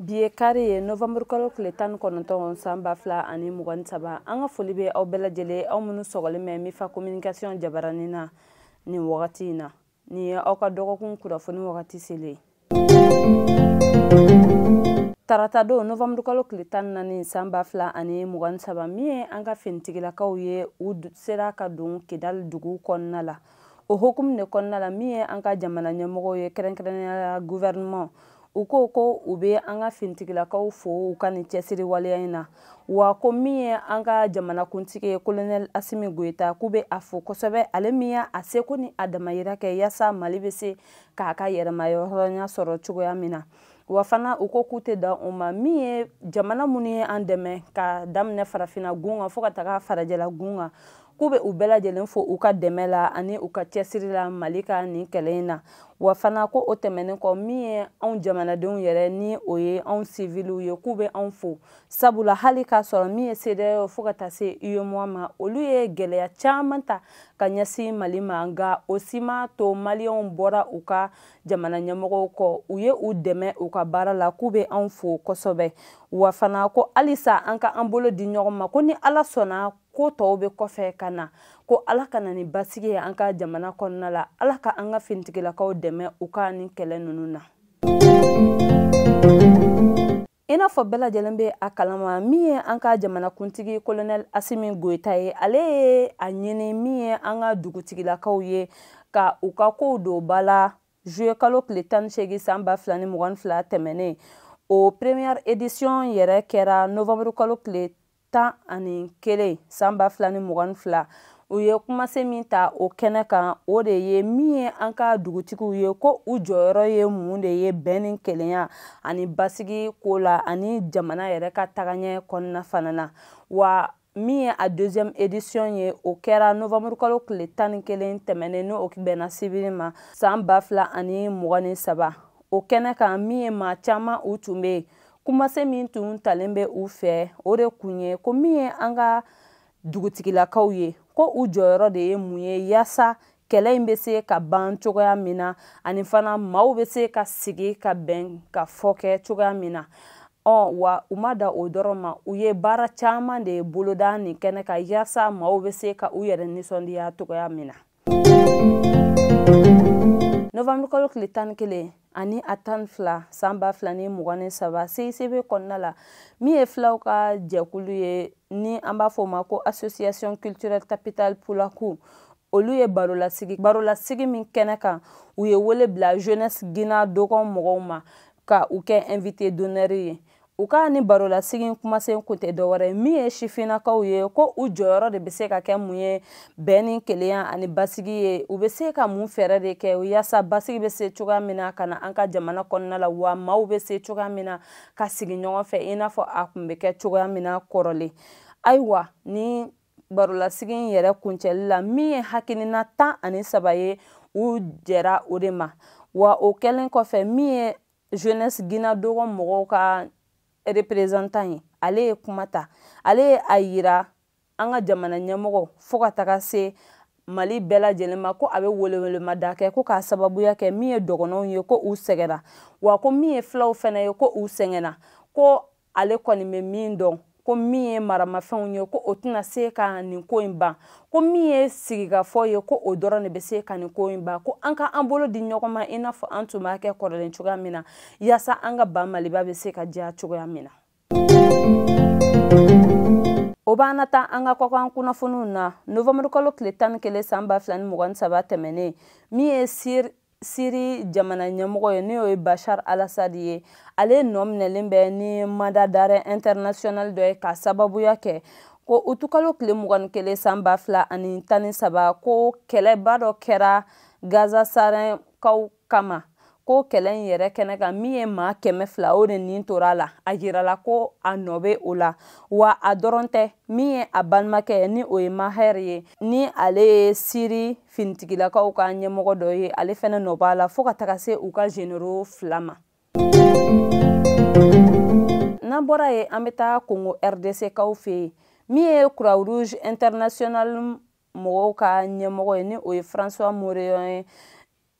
bi ye kari ye novamburu kalo tile tan ni kɔnɔntɔn san ba fila ani mugan ni saba an ka foli bɛ aw bɛɛ lajɛlen aw minnu sɔgɔlen bɛ mifa communication jabaranin na nin wagati in na nin ye aw ka dɔgɔkun kunnafoni wagati selen tarata don novamburu kalo tile tan ni naani san ba fila ani mugan ni saba min ye an ka finitigilakaw ye u sera ka don kidali dugu kɔnɔna la o hukumu de kɔnɔna la min ye an ka jamana ɲɛmɔgɔw ye kɛrɛnkɛrɛnnenya guvɛrɛnman u ko ko u bɛ an ka finitigilakaw fo u ka nin cɛsiri waleya in na wa ko min ye an ka jamanakuntigi ye kolonɛli asimi goyita k'u bɛ a fo kosɛbɛ ale min y'a seko ni a damayira kɛ yaasa mali bɛ se k'a ka yɛrɛmayɔrɔnya sɔrɔ cogoya min na wa fana u ko k'u tɛ dan o ma min ye jamana minnu ye an dɛmɛ ka daminɛ farafina gun kan fo ka taga farajɛla gun kan k'u bɛ u bɛɛ lajɛlen fo u ka dɛmɛ la ani u ka cɛsiri la mali ka nin kɛlɛ in na wa fana ko o tɛmɛnen kɔ min ye anw jamanadenw yɛrɛ ni o ye anw siviliw ye k'u bɛ anw fo sabula hali k'a sɔrɔ min ye cedeao fo ka taa se uemoa ma olu ye gɛlɛya caman ta ka ɲɛsin mali ma nka o si m'a to maliyɛnw bɔra u ka jamana ɲɛmɔgɔw kɔ u ye u dɛmɛ u ka baara la k'u bɛ anw fo kosɛbɛ wa fana ko halisa an ka an bolo di ɲɔgɔn ma ko ni ala sɔnna ko tɔw bɛ kɔfɛ ka na ko ala ka na ni basigi ye an ka jamana kɔnɔna la ala ka an ka finitigilakaw dɛmɛ u ka nin kɛlɛ ninnu na i n'a fɔ bɛɛ lajɛlen bɛ a kalama min ye an ka jamanakuntigi kolonɛl asimi goyita ye ale ye a ɲini min ye an ka dugutigilakaw ye ka u ka kow don ba la juillet kalo tile tan ni seegin san ba fila ni mugan ni fila tɛmɛnen o première édition yɛrɛ kɛra novembre kalo tile tan ani kelen san ba fila ni mugan ni fila u ye kumasen min ta o kɛnɛ kan o de ye min ye an ka dugutigiw ye ko u jɔyɔrɔ ye mun de ye bɛn ni kelenya ani basigi ko la ani jamana yɛrɛ ka tagaɲɛ kɔnɔna fana na wa min ye a deuxième édition ye o kɛra novembre kalo tile tan ni kelen tɛmɛnen n'o bɛnna sibiri ma san ba fila ani mugan ni saba o kɛnɛ kan min ye maa caman u tun bɛ yen kumasen min tun talen bɛ u fɛ o de kun ye ko min ye an ka dugutigilakaw ye ko u jɔyɔrɔ de ye mun ye yaasa kɛlɛ in bɛ se ka ban cogoya min na ani fana maaw bɛ se ka sigi ka bɛn ka fɔ kɛ cogoya min na ɔ wa u ma dan o dɔrɔn ma u ye baara caman de boloda nin kɛnɛ kan yaasa maaw bɛ se ka u yɛrɛ nisɔndiya cogoya min na novanburukalo tile tan ni kelen ani a tan fila san ba fila ni mugan ni saba cicb kɔnɔna la min ye filaw ka jɛkulu ye ni an b'a fɔ ma ko association culturelle tabital pulaaku olu ye barolasigi barolasigi min kɛnɛ kan u ye wele bila jeunesse ginna dogon mɔgɔw ma ka u kɛ invité d'honneur ye u ka ni barolasigi kumasen kun tɛ dɔwɛrɛ min ye sifinnakaw ye ko u jɔyɔrɔ de bɛ se ka kɛ mun ye bɛn ni kelenya ani basigi ye u bɛ se ka mun fɛɛrɛ de kɛ yaasa basigi bɛ se cogoya min na ka na an ka jamana kɔnɔna la wa maaw bɛ se cogoya min na ka sigi ɲɔgɔn fɛ i n'a fɔ a tun bɛ kɛ cogoya min na kɔrɔlen ayiwa ni barolasigi in yɛrɛ kuncɛli la min ye hakilina tan ani saba ye u jɛra o de ma wa o kɛlen kɔfɛ min ye jeunesse ginna dogon mɔgɔw ka représentant ye ale ye kuma ta ale ye a yira an ka jamana ɲɛmɔgɔ fo ka taga se mali bɛɛ lajɛlen ma ko a bɛ welewelemada kɛ ko k'a sababuya kɛ min ye dɔgɔnɔw ye ko u sɛgɛnna wa ko min ye filaw fana ye ko u sɛgɛnna ko ale kɔni bɛ min dɔn ko min ye maramafɛnw ye ko o tɛna se ka nin ko in ban ko min ye sigikafɔ ye ko o dɔrɔn de bɛ se ka nin ko in ban ko an ka an bolo di ɲɔgɔn ma i n'a fɔ an tun b'a kɛ kɔrɔlen cogoya min na yaasa an ka ba maliba bɛ se ka diya cogoya min na o b'an na taa an ka kɔkan kunnafoniw na novanburukalo tile tan ni kelen san ba fila ni mugan ni saba tɛmɛnen min ye sir siri jamana ɲɛmɔgɔ ye n'o ye bashar al-assad ye ale nɔ minɛlen bɛ ni mandat d'arrêt international dɔ ye ka sababuya kɛ ko utukalo tile mugan ni kelen san ba fila ani tan ni saba ko kɛlɛba dɔ kɛra gaz sarinkaw kama ko kɛlɛ in yɛrɛ kɛnɛ kan min ye maa kɛmɛ fila o de nin tora a la a jirala ko a nɔ bɛ o la wa a dɔrɔn tɛ min ye a balimakɛ ni o ye maher ye ni ale ye siri finitigilakaw ka ɲɛmɔgɔ dɔ ye ale fɛnɛ nɔ b'a la fo ka taga se u ka généraux fila ma n'an bɔra yen an bɛ taa kongo rdc kaw fɛ yen min ye croix rouge international mɔgɔw ka ɲɛmɔgɔ ye ni o ye françois moreillon ye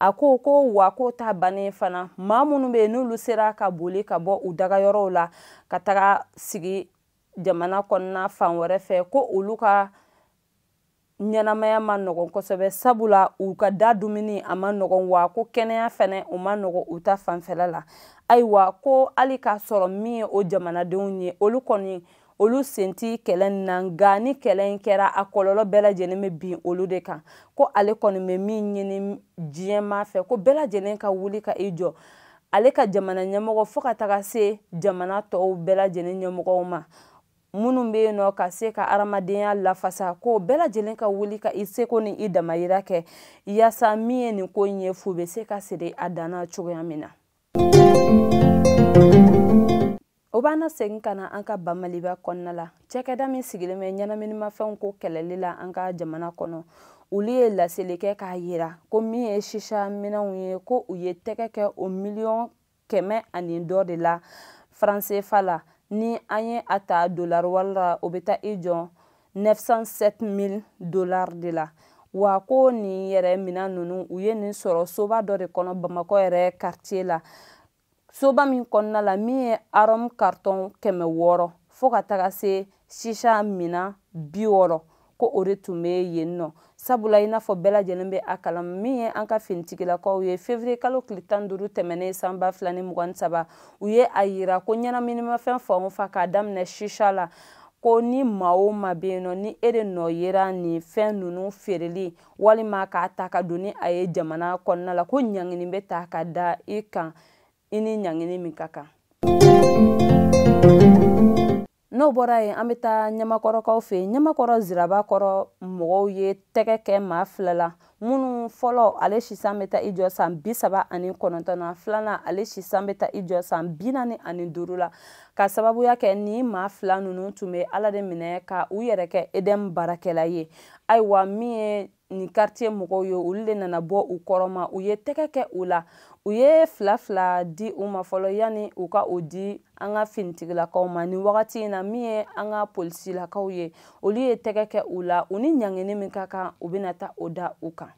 a ko ko wa k'o ta bannen fana maa minnu bɛ yen n'olu sera ka boli ka bɔ u dagayɔrɔw la ka taga sigi jamana kɔnɔna fan wɛrɛ fɛ ko olu ka ɲɛnamaya ma nɔgɔn kosɛbɛ sabula u ka da dumuni a ma nɔgɔn wa ko kɛnɛya fɛnɛ u ma nɔgɔn u ta fanfɛla la ayiwa ko hali k'a sɔrɔ min ye o jamanadenw ye olu kɔni olu sen tɛ kɛlɛ nin na nka ni kɛlɛ in kɛra a kɔlɔlɔ bɛɛ lajɛlen bɛ bin olu de kan ko ale kɔni bɛ min ɲini diɲɛ maa fɛ ko bɛɛ lajɛlen ka wuli ka i jɔ ale ka jamana ɲɛmɔgɔ fo ka taga se jamana tɔw bɛɛ lajɛlen ɲɛmɔgɔw ma minnu bɛ yen nɔ ka se ka adamadenya lafasa ko bɛɛ lajɛlen ka wuli ka i seko ni i damayira kɛ yaasa min ye nin ko in ye fu bɛ se ka siri a dan na cogoya min na o b'an nasegin ka na an ka ba maliba kɔnɔna la cɛkɛda min sigilen bɛ ɲɛnaminimafɛnw ko kɛlɛli la an ka jamana kɔnɔ olu ye laseli kɛ k'a yira ko min ye shisha minɛnw ye ko u ye tɛgɛ kɛ o miliyɔn kɛmɛ ani dɔ de la franc cfa la ni an ye a ta dollar wari la o bɛ taa i jɔ 907 000 dollars de la wa ko nin yɛrɛ minɛn ninnu u ye nin sɔrɔ soba dɔ de kɔnɔ bamakɔ yɛrɛ quartier la soba min kɔnɔna la min ye arôme carton kɛmɛ wɔɔrɔ fo ka taga se shisha minɛn bi wɔɔrɔ ko o de tun bɛ yen nɔ sabula i n'a fɔ bɛɛ lajɛlen bɛ a kalama min ye an ka finitigilakaw ye février kalo tile tan duuru tɛmɛnen san ba fila ni mugan ni saba u ye a yira ko ɲɛnaminimafɛn fan o fan k'a daminɛ shisha la ko ni maa o maa bɛ yen nɔ ni e de nɔ yera nin fɛn ninnu feereli walima k'a ta ka don ni a ye jamana kɔnɔna la ko ɲangini bɛ ta ka da i kan i ni ɲangini min ka kan n'o bɔra yen an bɛ taa ɲamakɔrɔkaw fɛ yen ɲamakɔrɔ zirabakɔrɔ mɔgɔw ye tɛgɛ kɛ maa fila la minnu fɔlɔ ale si san bɛ taa i jɔ san bi saba ani kɔnɔntɔn na filanan ale si san bɛ taa i jɔ san bi naani ani duuru la ka sababuya kɛ ni maa fila ninnu tun bɛ ala de minɛ ka u yɛrɛ kɛ edm baarakɛla ye ayiwa min ye nin quartier mɔgɔw ye olu de nana bɔ u kɔrɔ ma u ye tɛgɛ kɛ u la u ye fila fila di u ma fɔlɔ yanni u ka o di an ka finitigilakaw ma nin wagati in na min ye an ka polisilakaw ye olu ye tɛgɛ kɛ u la u ni ɲangini min ka kan u bɛna ta o da u kan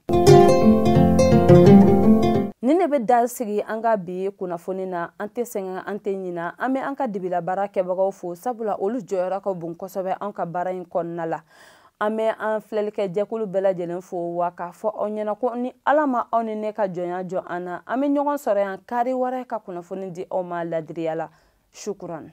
nin de bɛ dan sigi an ka bi kunnafoni na an tɛ sɛgɛn an tɛ ɲina an bɛ an ka dibilabaara kɛbagaw fo sabula olu jɔyɔrɔ ka bon kosɛbɛ an ka baara in kɔnɔna la an bɛ an filɛlikɛ jɛkulu bɛɛ lajɛlen fo wa k'a fɔ aw ɲɛna ko ni ala ma aw ni ne ka jɔnya jɔ an na an bɛ ɲɔgɔn sɔrɔ yan kari wɛrɛ ka kunnafoni di aw ma ladiriya la sukuran